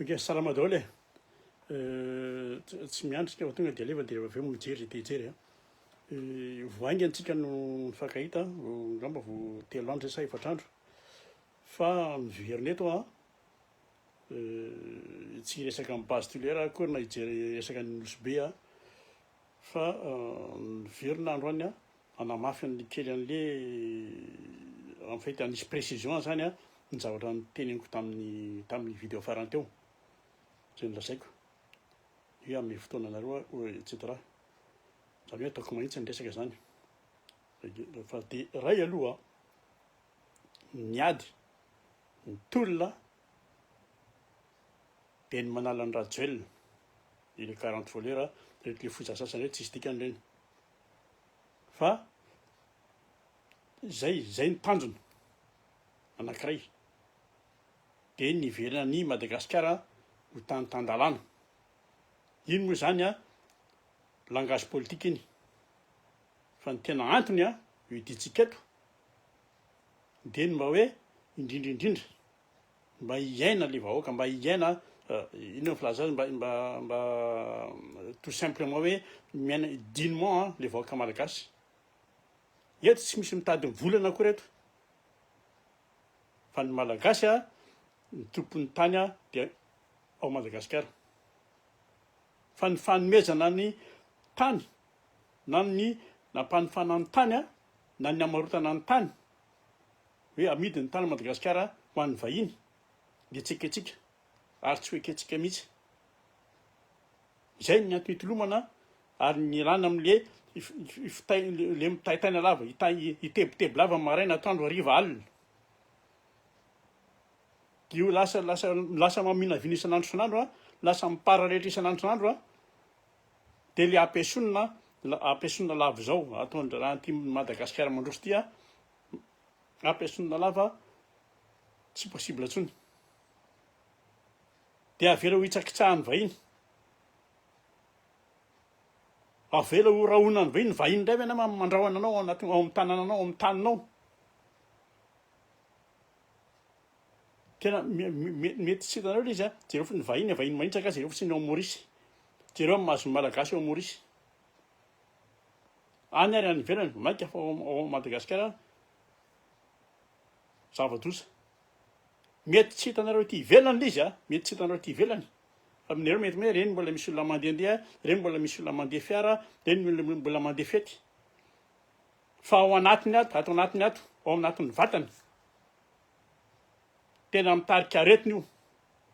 Ok salama daholo e, tsy miandry tsika fa tonga dia alefa dia avy eo mijery te hijery a, vao haingana tsika no nifankahita angamba vao telo andro zay sa efatra andro fa miverina eto a, tsy hiresaka amin'ny base tolera aho akory na hijery resaka ny Nosy Be a, fa miverina androany a, Nanamafy ny kely an'le en fait hanisy précision zany an ny zavatra niteneniko tamin'ny tamin'ny video farany teo zay nolazaiko hoe hanome fotoana anareo aho etc zany hoe ataoko mahitsy ny resaka zany fa de ray aloha ny ady ny tolona dia ny manala ny rajoelina ireo quarante voleur reto le foza sasany reto tsisy dikany ireny fa zay zay ny tanjona anankiray de ny hiverina an'i Madagasikara ho tany tan-dalàna, iny moa zany an langage politika iny fa ny tena antony an hidiantsika eto de ny mba hoe indrindra indrindra Mba hiaina le vahoaka, mba hiaina inona no filaza azy, mba mba mba tout simplement hoe miaina dignement an le vahoaka malagasy. Eto tsy misy mitady ny volana akory eto, fa ny malagasy an ny tompon'ny tany an dia ao Madagasikara, fa ny fanomezana ny tany na ny nampanofana ny tany an na ny namarotana ny tany, hoe amidy ny tany Madagasikara ho an'ny vahiny dia tsy ekentsika ary tsy ho ekentsika mihitsy. Izay ny antony itolomana ary ny ialana amin'le le mitaitaina lava, itebiteby lava maraina, atoandro, hariva, alina. Dia io lasa lasa lasa maminavina isan'andro isan'andro a, lasa miparalelitra isan'andro isan'andro a, dia le ampiesonina ampiesonina lava izao ataon-dRaharaha Tim Madagasikara mandroso ity a, Rap Esson Lalava tsy possible intsony dia avela ho hitsakitsahan'ny vahiny avela ho rahonan'ny vahiny vahiny indray ve na mandrahona anao ao anaty ao amin'ny tanananao ao amin'ny taninao tena mety tsy hitanareo le izy a jereo fo ny vahiny vahiny manitsaka jereo fotsiny ao Maurice jereo amin'ny mahazo malagasy ao Maurice Any ary any ivelany vao mainka fa ao Madagasikara zava-doza. Mety tsy hitanareo ety ivelany ilay izy a, mety tsy hitanareo ety ivelany. Fa aminareo mety hoe ireny mbola misy olona mandehandeha, ireny mbola misy olona mandeha fiara, ireny mbola mandeha fety. Fa ao anatiny ato, ato anatiny ato, ao anatin'ny vatany. Tena mitarika aretina io.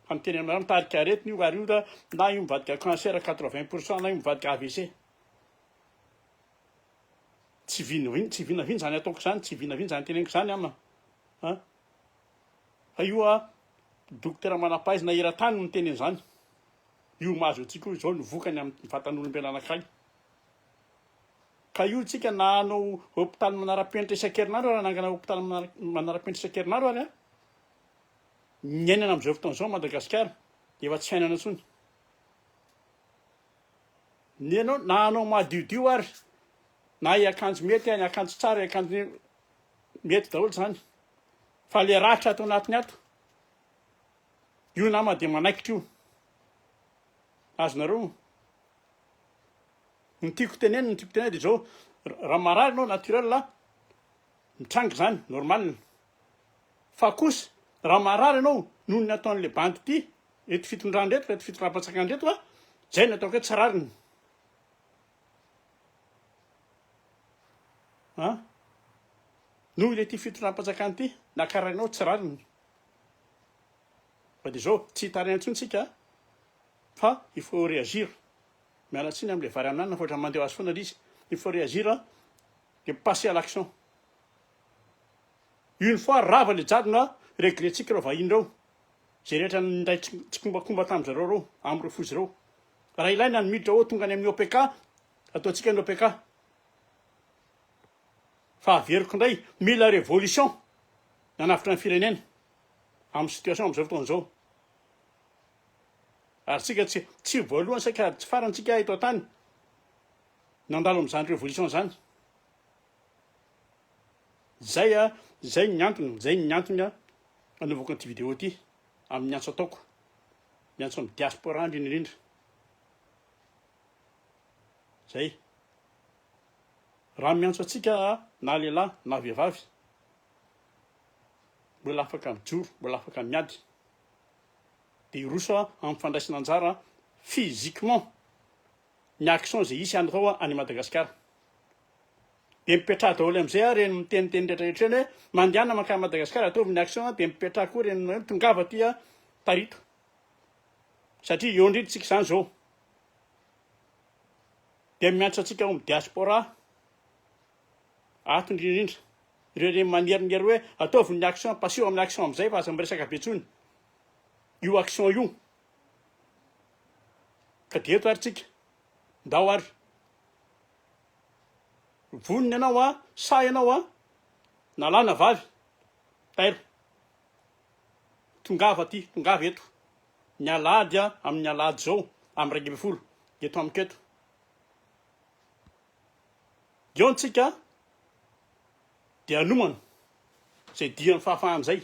Fa ny teny aminareo mitarika aretina io ary io ra na io mivadika cancer quatre vingt pour cent na io mivadika avc. Tsy vinavina tsy vinavina izany ataoko izany tsy vinavina izany teneniko izany ama a. Fa io a dokotera manam-pahaizana eran-tany no miteny an'izany. Io mahazo antsika io izao no vokany amin'ny vatan'olombelona anankiray. Ka io tsika na hanao hôpitaly manara-penitra isan-kerinandro ary hanangana hôpitaly manara-penitra isan-kerinandro ary a. Niainana amin'izao fotoana izao Madagasikara dia efa tsy fiainana intsony. Ny anao na anao madiodio ary na hiakanjo mety any akanjo tsara hiakanjo mety daholo zany fa le ratra ato anatiny ato io nama dia manaikitra io azonareo ny tiako teneny ny tiako teneny dia izao raha marary nao naturel mitranga zany normal Fa kosa raha marary ianao noho ny ataon'ilay bandy ity reto fitondrana reto, reto fitondram-panjakana reto a, izay no ataoko hoe tsy rariny. A, noho ilay ity fitondram-panjakana ity, nakarainao tsy rariny. Fa dia izao, tsy hitaraina intsony tsika fa il faut réagir. Miala tsiny amin'ilay vary amin'anana fa ohatrany mandeha ho azy foana ilay izy. Il faut réagir et passer à l'action. Une fois rava le jadona a, regretsiky reo vahiny reo, ze rehetra nindray tsikombakomba tam zareo reo, am reo fozy reo. Raha ilaina ny miditra ô tonga any amin'ny OPK, ataontsika ny OPK. Fa averiko indray, mila révolution ny hanavotra ny firenena amin'ny situation amzao fotoana zao. Ary tsika tsy tsy voalohany saika tsy farany tsika eto an-tany nandalo amin'izany révolution zany. Zay a, zay ny antony, zay ny antony a anaovako an'ity vidéo ity, amin'ny antso ataoko, miantso amin'ny diaspora indrindra indrindra. Zay. Raha miantso antsika na lehilahy na vehivavy, mbola afaka mijoro, mbola afaka miady. Dia hiroso amin'ny fandraisana anjara physiquement, ny action ze hisy any reo any Madagascar de mipetraha daholo amzay ary reny miteniteny rehetra rehetra reny hoe mandehana mankany Madagascar ataovy ny action de mipetraha koa reny hoe tongava aty a tarito satria eo ndrindra tsika zany zao de miantsa tsika ao am diaspora ato ndrindrindra reo reny manerinery hoe ataovy ny action paseo aminy action amzay fa aza miresaka be tsony io action io Ka dia eto ary tsika, ndao ary. Vonona ianao an, sahy ianao an, na lahy na vavy, tairo. Tongava aty, tongava eto. Ny alahady an, amin'ny alahady izao, amin'ny iraika ambin'ny folo, eto amiko eto. Eo ny tsika dia hanomana izay dian'ny fahafahana izay.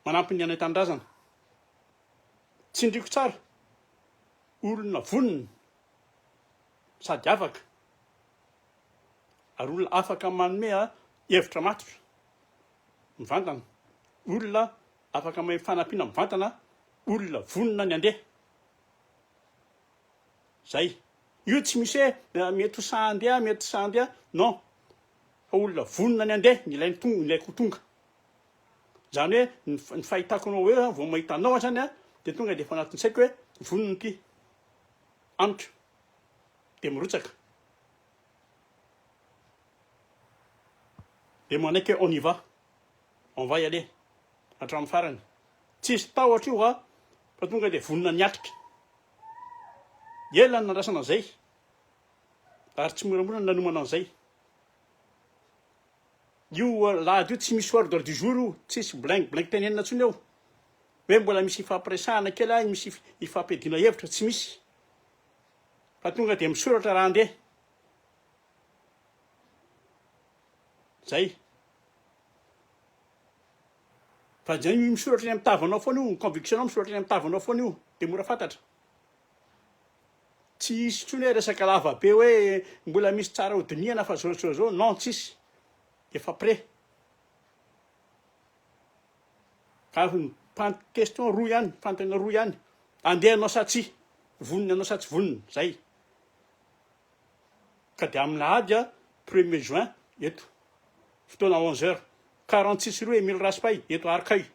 Manampy ny anay tanindrazana. Tsindriako tsara. Olona vonona sady afaka ary olona afaka manome hevitra matotra mivantana. Olona afaka mahay fanampiana mivantana. Olona vonona ny handeha. Zay. Io tsy misy hoe mety ho sahy handeha, mety tsy sahy handeha. Non. fa olona vonona ny handeha ny ilainy tonga ny ilaiko ho tonga izany hoe ny ny fahitako anao eo zany vao mahita anao azany a de tonga de efa anatin'ny saiko hoe vonona ity amiko de mirotsaka de manaiky hoe on y va on va y aller hatramin'ny farany tsisy tahotra io a fa tonga de vonona ny atrika ela ny nandrasana an'izay Ary tsy moramora ny nanomana an'izay. Io lahady io tsy misy ordre du jour io, tsisy bling bling tenenina intsony eo. Hoe mbola misy ifampiresahana kely any, misy ifampiadiana hevitra, tsy misy. Fa tonga dia misoratra raha andeha. Zay. Fa zay misoratra eny amin'ny tavanao foana io, ny conviction-nao misoratra eny amin'ny tavanao foana io, dia mora fantatra. Tsy hisy intsony hoe resaka lava be hoe mbola misy tsara ho dinihana fa zao zao zao, non tsy hisy. Efa près. Ka ny pan- question roa ihany, fanontaniana roa ihany. Andeha anao sa tsy? Vonona anao sa tsy vonona? Zay. Ka dia amin'ny lahady a, premier juin eto. Fotoana onze heures. Quarante six rue Emile Raspail eto Arcueil.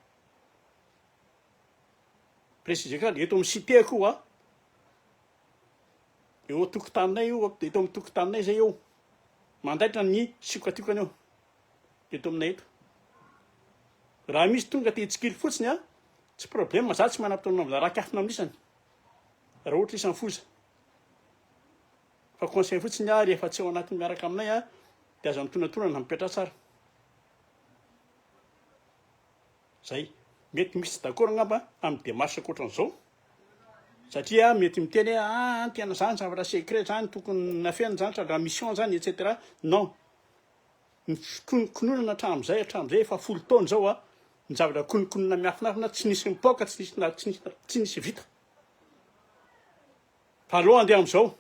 préciser kely, eto amin'ny cité koa, eo an-tokotaninay io, eto amin'ny tokotaninay izay eo, mandaitra ny siokatiokana eo, eto aminay eto. Raha misy tonga te hitsikilo fotsiny an, tsy problème, za tsy manam-potoana mbola raha kiafina amin'ny isany, raha ohatra isan'ny foza. Fa conseil fotsiny aho rehefa tsy ao anatin'ny miaraka aminay an, dia aza mitonantonana, mipetraha tsara. Zay. Mety misy tsy d'accord angamba amin'ny démarche ankoatran'izao, satria mety miteny hoe ah tena zany zavatra secret zany tokony nafenina zany sady raha mission zany etc. Non. Ny fikononkononana hatramin'izay hatramin'izay efa folo taona izao a, ny zavatra kononkonona miafinafina tsy nisy mipoaka tsy nisy na tsy nisy tsy nisy vita. Fa aleo andeha amin'izao.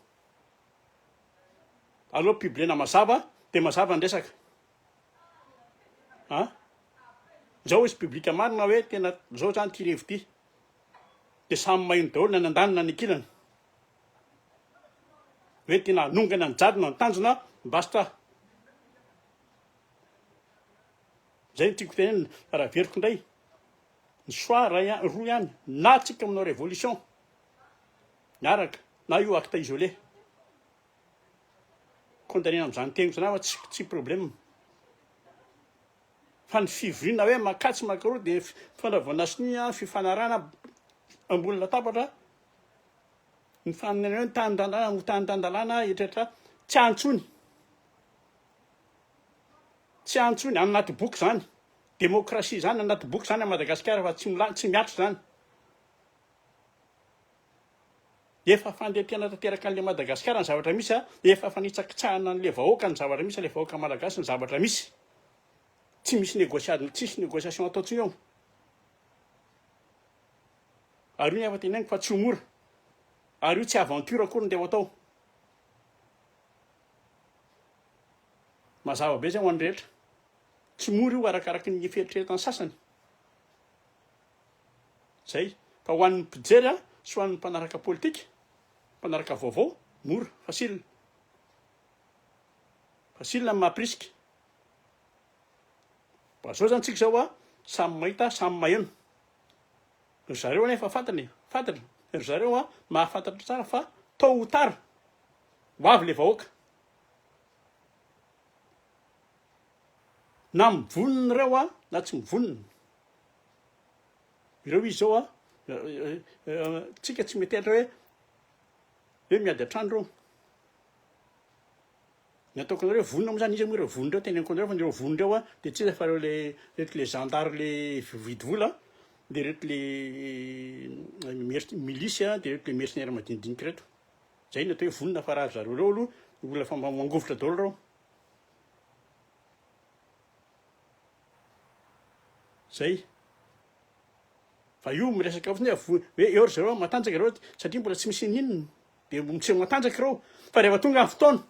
Aleo publiena mazava dia mazava ny resaka. An! Zao izy public marina hoe tena zao zany ty revo ty. De samy maheno daholo na ny andaniny na ny ankilany. Hoe tena hanongana ny jadona ny tanjona basta. Zay no tiako tenenina fa raha averiko indray ny choix ray an, roa ihany na tsika manao révolution miaraka na io acte isolé. condamner amzany teniko zany aho tsy tsy problème fa ny fivoriana hoe makà tsy makà roa dia mitondra voana sonia fifanarahana ambony latabatra ny faninanana ny tany tan-dalàna ho tany tan-dalàna etretra tsy antsony tsy antsony any anaty boky zany demokrasia zany anaty boky zany a Madagasikara fa tsy tsy miatra zany Efa fandentena tanteraka anle Madagascar ny zavatra misy a, efa fanitsakitsahana anle vahoaka ny zavatra misy, le vahoaka Malagasy ny zavatra misy. Tsy misy negociade, tsisy negociation atao tsiny eo. Ary io ny efa teneniko fa tsy ho mora. Ary io tsy aventure akory nde ho atao. Mazava be zay ho an'ny rehetra. Tsy mora io arakaraky ny fieritreretan'ny sasany. Zay. Ka ho an'ny mpijery a, sy ho an'ny mpanaraka politika, mpanaraka vaovao, mora, facile. Facile ny maha-prisque. Mba zao zany tsika zao a, samy mahita, samy maheno. Ry zareo anie efa fantany e, fantany. Ry zareo a, mahafantatra tsara fa tôt ou tard, ho avy le vahoaka. Na mivonona ireo a, na tsy mivonona. Ireo izy zao an, tsika tsy metehatra hoe hoe miady an-trano ireo. Ny ataoko anareo hoe vonona moa zany, iza moa ireo vonona ireo, teneniko anareo fa ireo vonona ireo an, dia tsy iza fa ireo le ireto le zandary le mividy vola an, dia ireto le mer- milisy an, dia ireto le mercenaires madinidinika ireto. Zay no atao hoe vonona fa raha ry zareo ireo aloha olona efa mangovitra daholo ireo. Zay. Fa io miresaka fotsiny hoe avoa, hoe eo ry zareo matanjaka ireo satria mbola tsy misy ininona. Dia miseho matanjaka ireo. Fa rehefa tonga ny fotoana,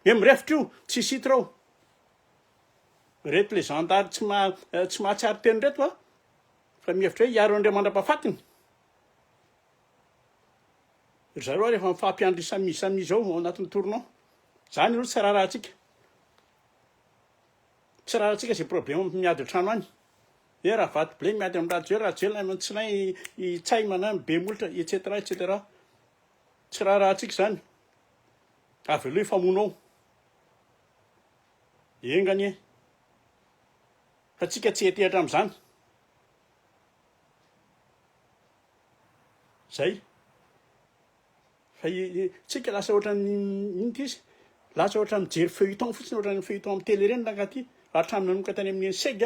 hoe mirefotra io, tsisy hita ireo. Ireto ilay zandary tsy ma- eh, tsy mahatsiaro teny ireto a. Fa mihevitra hoe hiaro an'ireo mandra-pahafatiny. Ry zareo ary efa mifampiandry samy izy samy izy ao ao anatin'ny tournant. Zany aloha tsy raharahantsika. Tsy rarantsika izay problème miady an-trano any eh Ravato Blay miady amin'ny Rajoel, Rajoel amin'ny Tsinay, i Ntsay manana be molotra etc etc. Tsy rarantsika izany. Avy aloha hifamono ao. Enga anie. Fa tsika tsy hetehatra amin'izany. Zay. Fa tsika lasa ohatran'ny inona izy? Lasa ohatran'ny mijery feuilleton fotsiny, ohatran'ny feuilleton amin'ny tele ireny rangahy ity. Hatramin'ny nanomboka tany amin'ny Enseg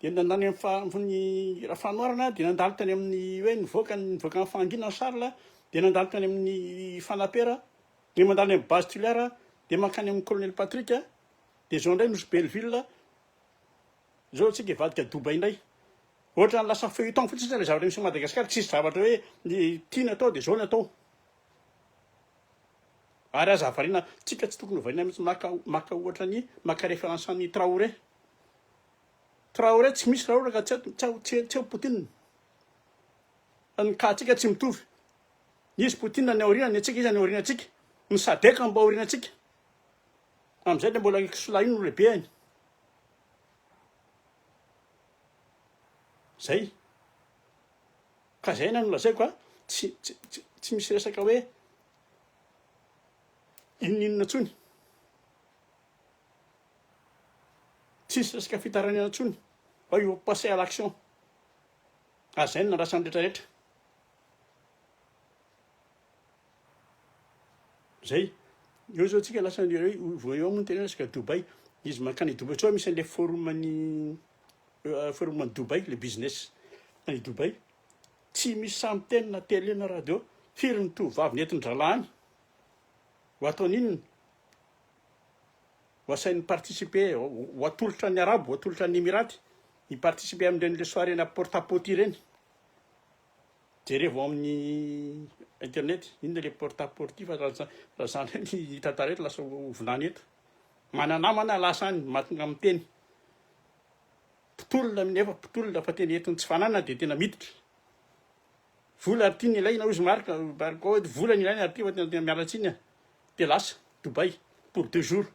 dia nandany amin'ny Rafanoharana dia nandalo tany amin'ny hoe nivoaka nivoaka ny fahanginana Charles dia nandalo tany amin'ny Fanapera dia mandalo any amin'ny base Tuliara dia mankany amin'ny Colonel Patrick dia izao indray nosy Belleville Zao tsika hivadika Dubai ndray. Ohatrany lasa feuilleton fotsiny zany le zavatra misy Madagascar tsisy zavatra hoe ny tiana atao de zao ny atao. Ary aza variana tsika tsy tokony ho variana mitsy maka maka ohatra ny maka reference an'i Traoré. Traoré tsy misy raha ohatra ka tsy tsy tsy tsy Poutine. Fa ny cas tsika tsy mitovy. Nisy Poutine ny aoriana ny antsika izy any aoriana tsika. Ny sadec mba aoriana tsika. Amizay dia mbola i Kisola iny no lehibeny. Zay. Ka zay no nolazaiko fa tsy tsy tsy tsy misy resaka hoe inon'inona intsony. Tsisy resaka fitarainana intsony fa io passé à l'action. Ary zay no nandrasan'ny rehetra rehetra. Zay. Eo zao tsika lasa ny hoe vao eo moa ny tena hoe resaka Dubaï. Izy mankany Dubaï sao misy an'ilay forum an'i forum an'i Dubaï, le business any Dubaï. Tsy misy sahy miteny na télé na radio. Firy ny tovovavy nentin-drahalahy any? Ho ataony inona? Ho asainy mi-participer, ho ho atolotra an'ny Arabo, ho atolotra an'ny Emirates, hi-participer amin'ireny le soirée-na porte à pote ireny. Jerevo amin'ny internet inona le porte à porte fa raha raha zany hoe ny tantara eto lasa ho vilany eto mana namana lasa any mahatonga amin'ny teny mpitolona amin'ny efa mpitolona fa tena eton'ny tsy fananana dia tena miditra vola ary tiany ilaina hozy marika marika hoe vola ny ilaina ary tia fa tena tena miala tsiny dia lasa Dubai pour deux jours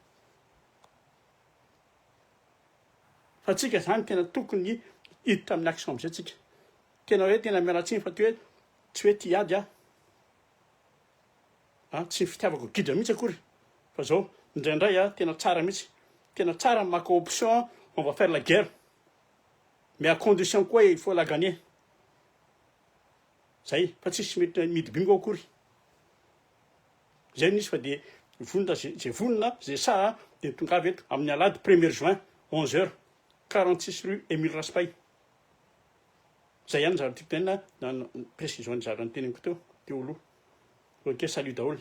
fa tsika zany tena tokony hiditra amin'ny action amizay tsika Tena hoe tena miala tsiny fa tsy hoe tsy hoe tia ady aho a, tsy ny fitiavako gidra mihitsy akory fa zao indraindray a tena tsara mihitsy, tena tsara ny maka option a, on va faire la guerre mais à condition koa il faut la gagner, zay fa tsisy mety mihidy bingo akory, zay no izy fa dia vonona ze ze vonona ze saha dia tongava eto amin'ny alahady premier juin onze heures quarante six rue Emile Raspay. Zay ihany zany tiako tenenina na ny précision nizara ny teneniko teo, teo aloha. Ok, salut daholo.